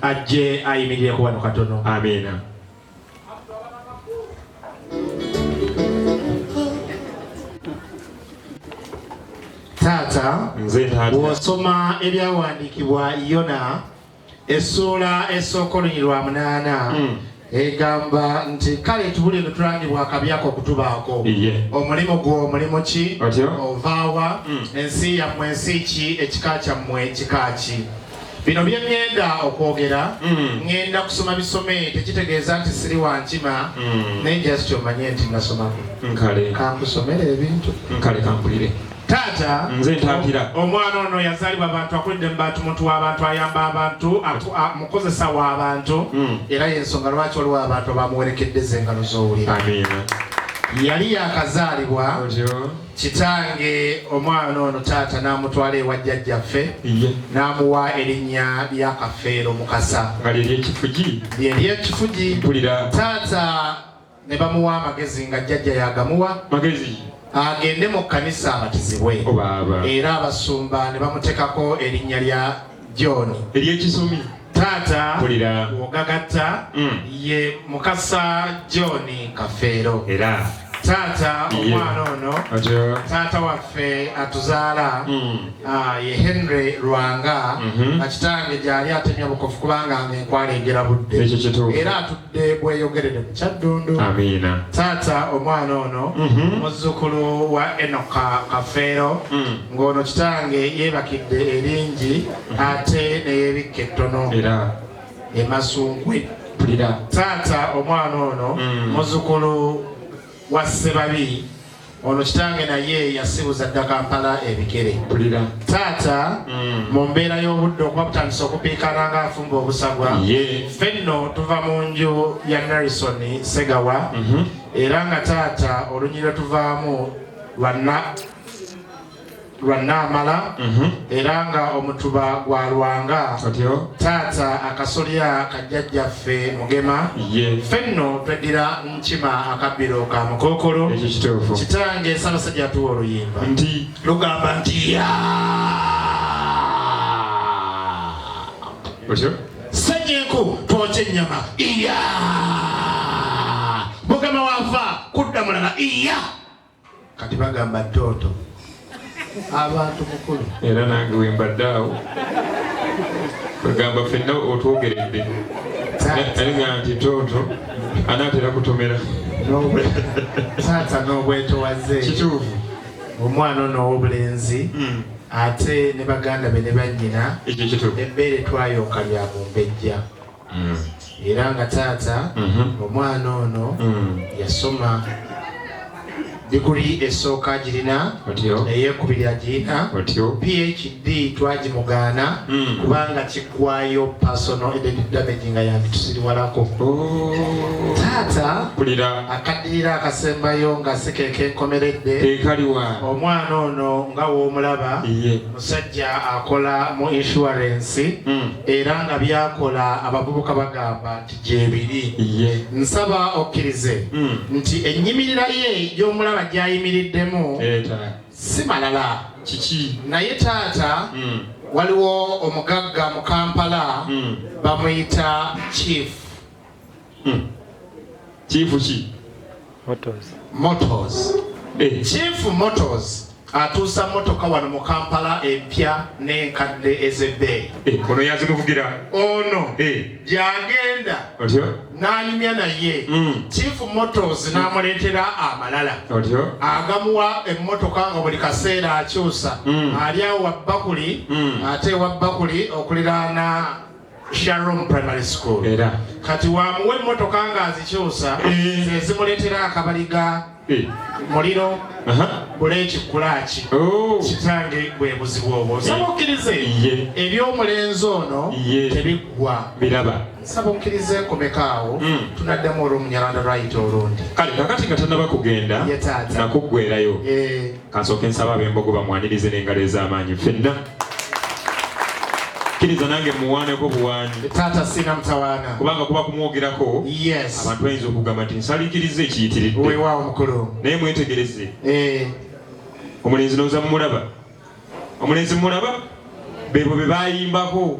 ajje ayimirire ku wano katono amiina taata bw'osoma ebyawandiikibwa yona essuula esooka olunyirwa munaana hmm. egamba nti kale tubuli lutulangibwa akabi ako okutubaako omulimu gwo omulimu ki ovaawa hmm. ensi yammwe ensi ki ekika kyammwe ekika ki bino byeŋŋenda okwogera hmm. ŋŋenda kusoma bisome tekitegeeza nti siri wankima hmm. naye just omanye nti nasomako kankusomere ebintu nkale kampulire Taata, nze ntaatira. Omwana ono yazaalibwa bantu, akulidde mu bantu, muntu w'abantu, ayamba abantu, mukozesa w'abantu, hmm. era y'ensonga lwaki waliwo abantu abamuwerekedde z'engalo z'owulira. Yali yakazaalibwa kitange omwana ono taata n'amutwala ewa jjajjaffe n'amuwa erinnya lya Kafeero Mukasa. Nga lyeryo ekifugi. Lyeryo ekifugi. Mpulira. Taata ne bamuwa amagezi nga jjajja yagamuwa magezi agende mu kkanisa abatizibwe oh, era abasumba ne bamutekako erinnya lya john ery'ekisomi taata wogagatta mm. ye mukasa john kafeero era taata omwana ono taata waffe atuzaala mm. ah, ye henry lwanga akitange mm-hmm. gyali atemya bukofu kubanga nga enkwala egera budde era Mbadde bweyogerere mu Kyaddundu. Amiina. Taata omwana ono Mhm. muzzukulu wa Enoka Kafeero Mm. ng'ono kitange yeebakidde eringi ate ne yeebikka ettono Era e Masunkwe. mpulira. Taata omwana ono Mm. muzzukulu wa Ssebabi Ono kitange naye yasibuza dda Kampala ebigere. Pulira. Taata mm. mu mbeera y'obudde okuba butandise okupiikana nga afumba obusagwa. Ye. Ffe nno tuva mu nju ya Nelson Segawa. Mm -hmm. Era nga taata olunyiriro tuvaamu lwa lwa Naamala mhm. era nga omutuba gwa Lwanga taata akasolya ka jjajjaffe Mugema ffe nno tweddira Nkima akabbiro ka Mukookolo kitange Ssaabasajja atuwa oluyimba nti lugamba nti ya senyenku twoca ennyama iya Mugema waava kudda mulala iya kati bagamba toto abantu mukulu era nange wembadde awo bagamba fenna otwogeredde naye nga nti toto anaatera kutomera taata n'obwetowaze kituufu omwana ono ow'obulenzi hmm. ate ne baganda be ne bannyina ebbeere twayonka lya mumbejja mm. era nga taata mm-hmm. omwana ono mm. yasoma diguli esooka girina eyekubiri agirina phd twagimugaana mm. kubanga kigwayo personal identity damage nga yanditusiriwalako oh. taata akaddirira akasembayo nga sikeke nkomeredde omwana ono nga womulaba Omusajja akola mu inshuwarensi hmm. era nga byakola abavubuka bagamba nti gyebiri. Nsaba okkirize hmm. nti ennyimirira ye gy'omulaba gy'ayimiriddemu eh, si malala kiki naye taata hmm. waliwo omugagga mu Kampala bamuyita chief Hmm. Chief ki? Motors. Motors. Eh. Chief Motors atuusa motoka wano mu Kampala empya n'enkadde ez'ebbeeyi. Eh, ono yazimuvugira. Ono eh. gy'agenda n'anyumya naye hmm. Chief Motors n'amuleetera amalala agamuwa emmotoka nga buli kaseera akyusa hmm. ali awo wabbakuli hmm. ate wabbakuli okuliraana Sharom Primary School era kati wamuwa emmotoka ng'azikyusa eh. ze zimuleetera akabaliga eh. muliro bula ekikulaaki oh. kitange bwe buzibu obwo eh. nsaba okkirize eby'omulenzi ono tebiggwa biraba nsaba okkirize nkomekaawo hmm. tunaddamu olw'omunyalanda lwayita olundi kale kakati nga tannaba kugenda nakuggwerayo Kansooke nsaba ab'embogo bamwanirize n'engalo ez'amaanyi ffenna. Kkiriza nange muwaaneko buwaani. Taata sina mutawaana. Kubanga kuba kumwogerako. Yes. Abantu bayinza okugamba nti nsaliikiriza ekiyitiridde. Weewaawo mukulu. Naye mwetegereze. Eh. Omulenzi nooza mumulaba. Omulenzi mumulaba? Beebo be baayimbako.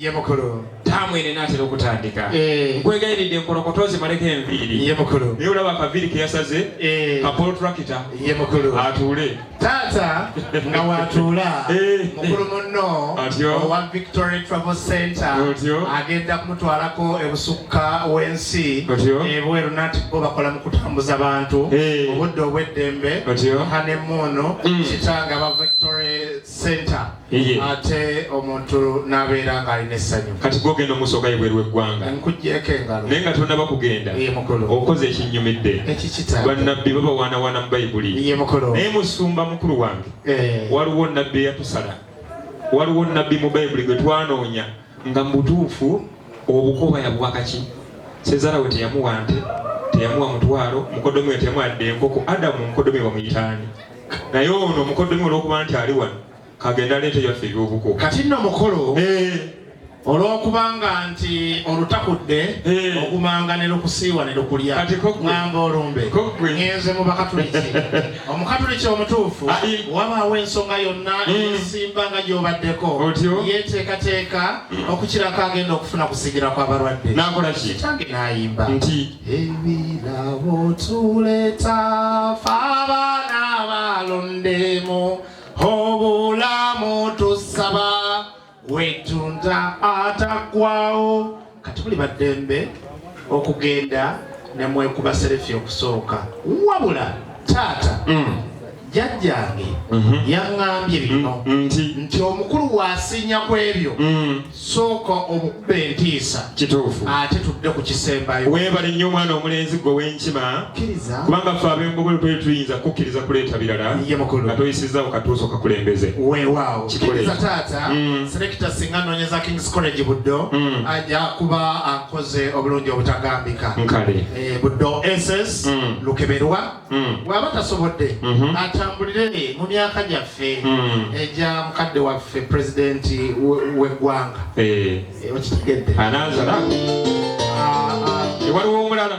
ye mukulu taamu eno enaatera okutandika eh. nkwegayiridde enkolokoto ozimaleko enviiri ye mukulu naye olaba akaviiri ke yasaze eh. kapolo turakita ye mukulu atuule taata nga watuula eh. mukulu munno owa victory travel center agenda kumutwalako ebusukka w'ensi ebweru nati bo bakola mu kutambuza bantu obudde obw'eddembe hanemuunu mm. kitanga ba victory center ate omuntu nabeera nga alina essanyu kati gogenda omusooka yebweru weggwanga nkujeko engalo naye nga tonaba kugenda okoze ekinyumidde banabbi babawaanawaana mu bayibuli naye musumba mukulu wange eh. waliwo nabbi eyatusala waliwo nabbi mu bayibuli gwe twanoonya Nga mubutuufu obukoba yabuwa kaki? Sezala we teyamuwa nte, teyamuwa mutwalo, mukoddomi we teyamuwa yadde enkoko, Adamu mukoddomi we bamuyita ani? Naye ono mukoddomi olwokuba nti ali wano kagende aleete ebyaffe ebyobuko. Kati nno mukulu eh. olwokubanga nti olutakudde eh. ogumanga ne lukusiiwa ne lukulya ngamba olumbe ngenze mu bakatuliki. omukatuliki omutuufu wabaawo ensonga yonna esimba nga gyobaddeko yeteekateeka okukirako agenda okufuna kusigira kw'abalwadde kitange n'ayimba nti ebirabo tuleta fa abaana balondemu obulamu tusaba wetunza atagwawo kati muli baddembe okugenda nemwekuba serefi okusooka wabula taata mm. jajjange mhm. yaŋŋambye bino mm, mm, nti omukulu wasinya ku ebyo mm. sooka omukuba entiisa kituufu ate tudde ku kisembayo weebale nnyo omwana omulenzi gwe wenkima kubanga ffe ab'engobolo twali tuyinza kukkiriza kuleeta birala nga toyisizzawo katuuso kakulembeze weewaawo kikiriza taata mm. selekita singa noonyeza kings college buddo mm. aja kuba akoze obulungi obutagambika nkale eh, buddo ss mm. lukeberwa bw'aba tasobodde mm-hmm. atambulire mu myaka gyaffe egya eh, mukadde waffe pulezidenti w'eggwanga eh. okitegedde anaazala ah, ah. waliwo omulala